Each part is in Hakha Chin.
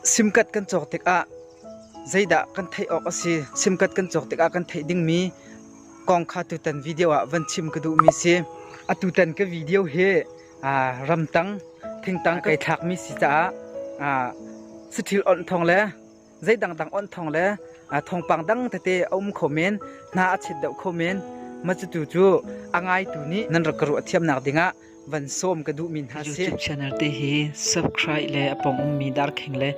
Simkat kan cawk tikah zeidah kan theih awk a si? Simkat kan cawk tikah kan theih dingmi kong kha tutan video ah van chim ka duhmi si. A tutan ka video hi ramtang thingtang kai thlakmi si caah sathil onh thong le zei dangdang onh thong le thongpang dang tete a um kho men, hna a chit deuh kho men. Ma cutu cu a ngaitu nih nan rak ka ruah thiamnak dingah van sawm ka duhmi hna si. YouTube channel te hi subscribe le a pong ummi darkhing le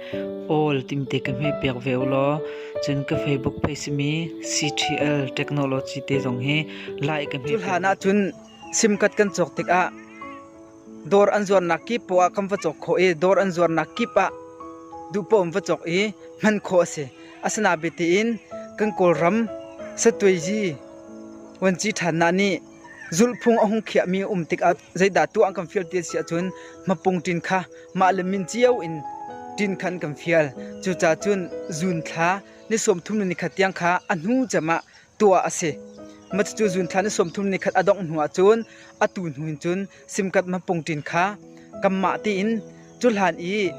all timte ka hme piak ve ulaw cun ka Facebook page simi CTL Technology te zong hi like ka hme. Cu hlan ah cun simkat kan cawk tikah dawr an zuarnak kip po ah kam va cawk khawh i dawr an zuarnak kip ah duhpom va cawk i hman khawh a si. Asana bete in kan kawlram satwei ji wanci than na nih Zulhphung a hung khiahmi a um tikah zeidah tuah an kan fial ti a si ahcun mapung ṭin kha mahle min cio in ṭin kha an kan fial. Cucaah cun zuun thla ni sawmthum le ni khat tiang kha a hnu cem ah tuah a si. Cucu zuun thla ni sawmthum le ni khat a dongh hnuah cun atu hnu in cun simkat mapung ṭin kha kanmah tiin cuhlan i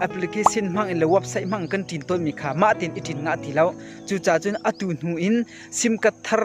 application hmang in le website hmang in kan ṭin tawnmi kha mah tein i ṭin ngah ti lo. Cucaah cun atu hnu in simkat thar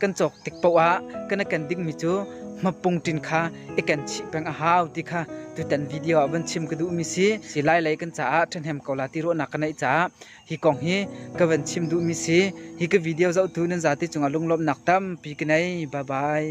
kan cawk tik paoh ah kan kan dingmi cu mapung ṭin kha i kan chih peng a hau ti kha tutan video ah van chim ka duhmi si si lai lei kan caah ṭhahnem ko la ti ruahnak ka neih caah hi kong hi ka van chim duhmi si hi ka video zohtu nan zate cungah lunglawmhnak tampi ka nei bye bye